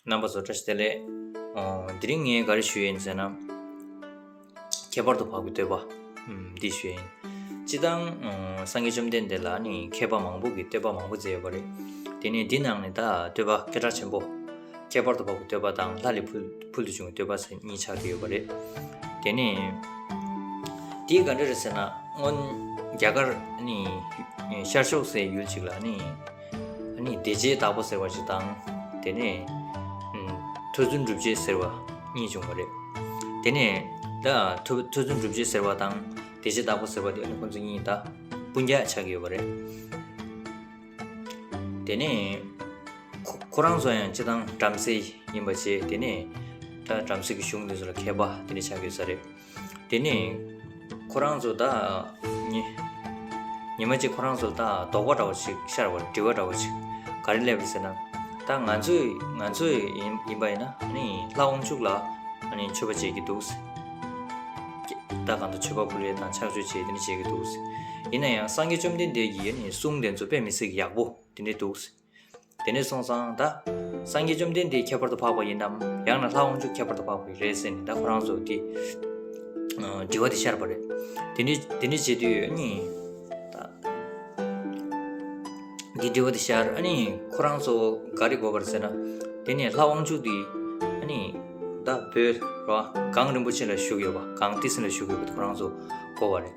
རྣམ་པ་བཟོ་གྲྭ་ཞེས་ལས། དེ་རིང་ངས་ག་རེ་ཞུས་ཡིན་ཟེར་ན། ཁྱད་པར་དུ་འཕགས་པའི་བསྟོད་པ་འདི་ཞུས་ཡིན། སྤྱི་བཏང་སངས་རྒྱས་བཅོམ་ལྡན་འདས་ལ་ནི་མཁས་པ་མང་པོ་གིས་བསྟོད་པ་མང་པོ་མཛད་ཡོད་པ་རེད། དེ་ནས་འདི་ནང་ནས་ད་བསྟོད་པ་སྐད་གྲགས་ཆེན་པོ། ཁྱད་པར་དུ་འཕགས་པའི་བསྟོད་པ་དང་ལྷ་ལས་ཕུལ་དུ་བྱུང་བའི་བསྟོད་པ་ཟེར་གཉིས་ཆགས་ཀྱི་ཡོད་པ་རེད། དེ་ནས། དེ་ག་འདྲ་རེད་ཟེར་ན་སྔོན་རྒྱ་གར་ནི་ཤར་ཕྱོགས་སའི་ཡུལ་ཅིག་ལ་ནི། ཨཱ་ནི་བདེ་བྱེད་དྭགས་པོ་ཟེར་བ་ཞིག་དང་དེ་ནས་ཐོས་བརྫུན་སྒྲུབ་བྱེད་ཟེར་བ་གཉིས་བྱུང་བ་རེད་དེ་ནས་ད་ཐོས་ཐོས་བརྫུན་སྒྲུབ་བྱེད་ཟེར་བ་དང་བདེ་བྱེད་དྭགས་པོ་ཟེར་བ་དེ་ཁོ་ཚོ་གཉིས་ད་སྤུན་རྒྱག་ཆགས་ཡོད་པ་རེད་དེ་ནས་ཁོ་རང་ཚོ་ཡང་ཅི་དང་བྲམ་ཟེ་ཡིན་པ་བྱས་དེ་ནས་ད་བྲམ་ཟེ་གི་གཞུང་དེ་ཚོ་ལ་མཁས་པ་དེ་ནས་ཆགས་ཡོད་ས་རེད་དེ་ནས་ཁོ་རང་ཚོ་ད་ཉི་ཉི་མ་གཅིག་ཁོ་རང་ཚོ་ད་དོག་པ་འདྲ་བོ་ཞིག་ཤར་བ་དྲི་བ་འདྲ་བོ་ཞིག་ག་རེ་སླེབས་ཟེར་ན་ད་ང་ཚོས་ང་ཚོས་ཡིན་ཡིན་པ་ཡིན་ན་ནི་ལྷ་དབང་ཕྱུག་ལ་ནི་མཆོད་པ་བྱེད་ཀྱི་འདུག་ཟེར་ད་གང་དུ་མཆོད་པ་ཕུལ་བས་དང་ཕྱག་མཆོད་བྱེད་དེ་ནི་བྱེད་ཀྱི་འདུག་ཟེར་ཡིན་ན་ཡང་སངས་རྒྱས་བཅོམ་ལྡན་འདས་ཀྱིས་ནི་གསུང་དེ་ཚོ་དཔེ་མི་སྲིད་ཀྱི་ཡག་པོ་དེ་འདྲས་འདུག་ཟེར་དེ་ནས་སོང་ཙང་ད། སངས་རྒྱས་བཅོམ་ལྡན་འདས་ཁྱད་པར་དུ་འཕགས་པ་ཡིན་ནམ། ཡང་ན་ལྷ་དབང་ཕྱུག་ཁྱད་པར་དུ་འཕགས་པ་ཡིན་རེད་ཟེར་ནས་ད་ཁོ་རང་ཚོ་དེ། དྲི་བ་དེ་ཤར་བ་རེད། དེ་ནས་དེ་ནས་བྱས་དུས་ཨ་ནི། དེ་དྲི་བ་དེ་ཤར་ཨ་ནི་ཁོ་རང་ཚོ་ག་རེ་དགོས་པར་ཟེར་ན། དེ་ནས་ལྷ་དབང་ཕྱུག་དེ་ཨ་ནི། ད་བོད་རོ། གངས་རིན་པོ་ཆེ་ལ་བཞུགས་ཡོད་པ་གངས་ཏི་སེ་ལ་བཞུགས་ཡོད་པ་དེ་ཁོ་རང་ཚོ་གོ་བ་རེད།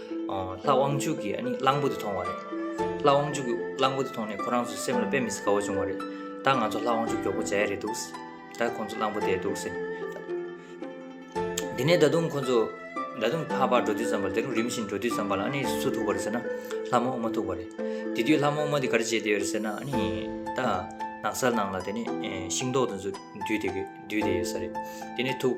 ལྷ་དབང་ཕྱུག་གིས་ཨ་ནི་གླང་པོ་དེ་མཐོང་བ་རེད། ལྷ་དབང་ཕྱུག་གིས་གླང་པོ་དེ་མཐོང་ནས་ཁོ་རང་ཚོའི་སེམས་ལ་དཔེ་མི་སྲིད་དགའ་བོ་བྱུང་བ་རེད། ད་ང་ཚོ་ལྷ་དབང་ཕྱུག་མགྱོགས་པོ་མཇལ་ཡ་རེད་འདུག། ད་ཁོ་ཚོ་གླང་པོ་དེ་འདུག་ཟེར། དེ་ནས་ད་དུང་ཁོ་ཚོ་ད་དུང་ཕར་ཕར་འགྲོ་དུས་ཙམ་པར་དེ་རིང་རིམ་བཞིན་འགྲོ་དུས་ཙམ་པར་ལ་ཨ་ནི་སུ་ཐུག་པ་རེད་ཟེར་ན། ལྷ་མོ་ཨུ་མ་ཐུག་པ་རེད། དེ་དུས་ལྷ་མོ་ཨུ་མ་དེ་ག་རེ་བྱས་བསྡད་ཡོད་རེད་ཟེར་ན་ཨ་ནི། ད་ནགས་ཚལ་ནང་ལ་དེ་ནི་ཤིང་ཏོག་དེ་ཚོ་འདུས་ཏེ་འདུས་བསྡད་ཡོད་ས་རེད། དེ་ནས་ཐུག།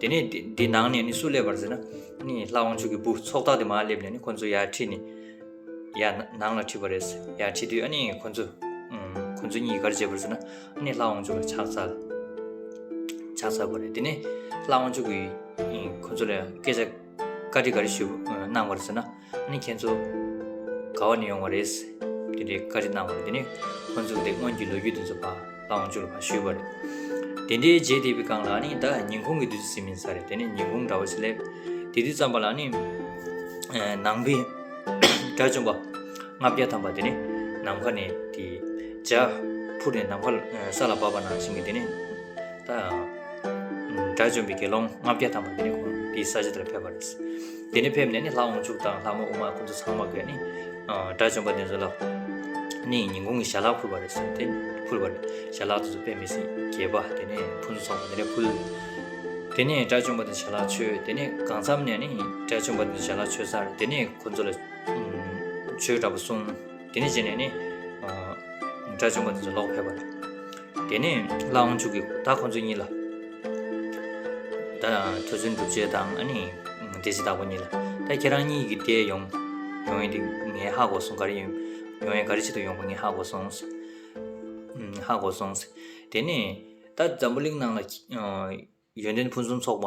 དེ་ནས་དེ་ནང་ནས་ནི་སུ་སླེབས་པར་ཟེར་ན་ནི་ལྷ་དབང་ཕྱུག་གི་བུ་ཚོགས་བདག་དེ་མ་སླེབས་ནས་ནི་ཁོ་ཚོ་ཡར་ཁྲིད་ནི་ཡར་ནང་ལ་ཁྲིད་པར་རེས་ཡར་ཁྲིད་དུས་ཨ་ནི་ཁོ་ཚོ་ཁོ་ཚོ་གཉིས་གར་བྱེད་པར་ཟེར་ན་ཨ་ནི་ལྷ་དབང་ཕྱུག་ལ་ཕྱག་འཚལ་ཕྱག་འཚལ་བ་རེད་དེ་ནས་ལྷ་དབང་ཕྱུག་གིས་ཁོ་ཚོ་ལ་སྐད་ཆ་བཀའ་དྲི་ག་རེ་ཞུ་གནང་བར་ཟེར་ན་ནི་ཁྱེད་ཚོ་ག་བ་ནས་ཡོང་བ་རེད། དེ་འདྲའི་བཀའ་དྲི་གནང་བ་རེད་དེ་ནི་ཁོ་ཚོ་དེ་སྔོན་གྱི་ལོ་རྒྱུས་དེ་ཚོ་བ་ལའང་བཅུག་ལ་བ་ཞུས་བ་རེད། དེ་འདྲའི་རྗེས་དེ་བི་ཀང་ལགས་ནི་ད་ཉིན་གུང་གི་དུས་ཚོད་ཟིན་མིན་ས་རེད་དེ་ནི་ཉིན་གུང་འདྲ་བོ་ཞིག་སླེབས། དེ་དུས་ཙམ་པ་ལ་ནི་ནང་པའི་དགྲ་བཅོམ་པ་ལྔ་བརྒྱ་ཐམ་པ་དེ་ནི་ནམ་མཁའ་ནས་དེ་འཇའ་འཕུར་ནས་ནམ་མཁའ་ས་ལ་བབས་པ་ནང་བཞིན་གྱི་དེ་ནི་ད་དགྲ་བཅོམ་པའི་དགེ་སློང་ལྔ་བརྒྱ་ཐམ་པ་དེ་ནི་ཁོང་དེའི་ས་ཆ་དེ་ལ་ཕེབས་པ་རེད། དེ་ནས་ཕེབས་ནས་ནི་ལྷ་དབང་ཕྱུག་དང་ལྷ་མོ་དབུ་མ་སྐུ་མཚོ་ཚང་མ་དགོས་ནི་དགྲ་བཅོམ་པ་དེ་ཚོ་ལ་ནི་ཉིན་གུང་གི་ཞལ་ལག་ཕུལ་བ་རེད་ཟེར་དེ་ཕུལ་བ་རེད་ཞལ་ལག་དེ་ཚོ་དཔེ་མི་སྲིད་རྒྱལ་པོ་དེ་ནས་ཕུན་ཚོགས་པ་དེ་ནས་ཕུལ་དེ་ནས་དགྲ་བཅོམ་པ་དེ་ཞལ་ལག་ཆོས་དེ་ནས་གང་མཚམས་ནས་ནི་དགྲ་བཅོམ་པ་དེ་ཞལ་ལག་ཆོས་སར་དེ་ནས་ཁོ་ཚོ་ལ་ཆོས་འདྲ་པོ་གསུངས་དེ་ནས་བྱས་ནས་ནི་དགྲ་བཅོམ་པ་དེ་ཚོ་ལོག་ཕེབས་པ་རེད་དེ་ནས་བླ་འོང་ཆུ་གི་ད་ཁོང་ཚོ་གཉིས་ལ་ད་ཐོས་ཚུལ་འགྲུབ་བྱེད་དང་ཨ་ནི་དེ་སྲི་ད་ཁོ་གཉིས་ལ་ད་ཁྱེད་རང་གཉིས་ཀྱི་དེ་ཡོང་ཡོང་ཡིན་དེ་ངའི་ཧ་གོ་སོང་ག་རེ་ཡིན་ཡོང་ཡིན་ག་རེ་བྱེད་དུ་ཡོང་གོ་ངའི་ཧ་གོ་སོང་ཧ་གོ་སོང་དེ་ནས་ད་འཛམ་བུ་གླིང་ནང་ལ་ཡོན་ཏན་ཕུན་སུམ་ཚོགས་པ་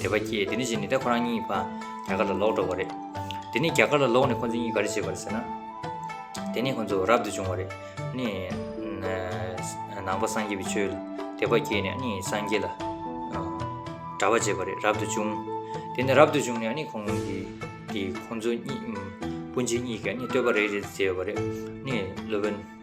དད་པ་སྐྱེས་དེ་ནས་བཞིན་ནི་ད་ཁོ་རང་གཉིས་པ་རྒྱ་གར་ལ་ལོག་འགྲོ་བ་རེད། དེ་ནས་རྒྱ་གར་ལ་ལོག་ནས་ཁོ་ཚོ་གཉིས་ག་རེ་བྱས་པ་རེད་ཟེར་ན། དེ་ནས་ཁོ་ཚོ་རབ་ཏུ་བྱུང་བ་རེད། ནས་ནང་པ་སངས་རྒྱས་པའི་ཆོས་ལ་དད་པ་སྐྱེས་ནས་ནི་སངས་རྒྱས་ལ་གྲྭ་བ་བྱས་པ་རེད་རབ་ཏུ་བྱུང། དེ་ནས་རབ་ཏུ་བྱུང་ནས་ནི་ཁོང་གིས་ཁོང་ཚོ་གཉིས་སྤུན་མཆེད་གཉིས་ཀས་ནི་བསྟོད་པ་རེ་རེ་བྱས་པ་རེད། ནས་ལོ་པཎ།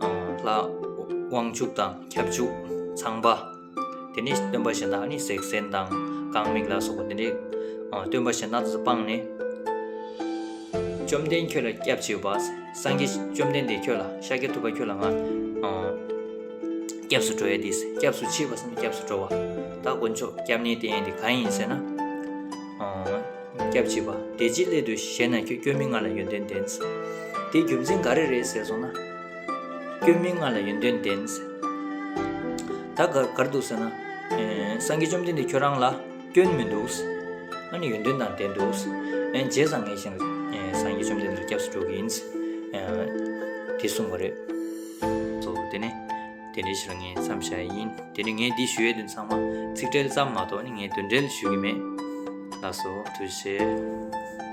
ལ་དབང་ཕྱུག་དང་ཁྱབ་འཇུག་ཚངས་པ་དེ་ནས་སྟོན་པ་བྱིན་དང་ནི་སྲེག་སེན་དང་རྐང་མིག་ལ་སོགས་པ་དེ་ནས་སྟོན་པ་བྱིན་དང་དུ་སྤངས་ནས་བཅོམ་ལྡན་ཁྱོད་ལ་སྐྱབས་མཆི་བ་སངས་རྒྱས་བཅོམ་ལྡན་འདས་ཁྱོད་ལ་ཤཱཀྱ་ཐུབ་པ་ཁྱོད་ལ་ང་སྐྱབས་སུ་འགྲོ་ཡ་དེས་སྐྱབས་སུ་མཆི་བ་སངས་རྒྱས་སྐྱབས་སུ་འགྲོ་བ་ད་དཀོན་མཆོག་སྐྱབས་གནས་དེ་ཡིན་དེ་གང་ཡིན་ཟེར་ན་སྐྱབས་བྱེད་པ་དེ་ཅིའི་སླད་དུ་ཞེ་ན་ཁྱོད་སྐྱོན་མི་མངའ་ལ་ཡོན་ཏན་ལྡན། དེའི་རྒྱུ་མཚན་ག་རེ་རེད་ཟེར་སོང་ན། སྐྱོན་མི་མངའ་ལ་ཡོན་ཏན་ལྡན། ད་གར་གར་འདུག་ཟེར་ན། སངས་རྒྱས་བཅོམ་ལྡན་འདས་ཁྱོད་རང་ལ་སྐྱོན་མི་འདུག། ཨ་ནི་ཡོན་ཏན་དང་ལྡན་འདུག། རྗེས་བཟང་ངན་བཞིན་དུ་སངས་རྒྱས་བཅོམ་ལྡན་འདས་ལ་སྐྱབས་སུ་འགྲོ་གི་ཡིན། དེ་གསུངས་པ་རེད། དེ་ནས། དེ་འདྲའི་ཕྱིར་ངས་མཚམས་བཞག་ཡས་ཡིན། དེ་ནི་ངས་འདི་ཞུ་ཡས་དོན་ཚང་མ་ཚིག་འགྲེལ་ཙམ་མ་གཏོགས་ནི་ངས་དོན་འགྲེལ་ཞུ་གི་མེད། ལགས་སོ། དུ་བྱས།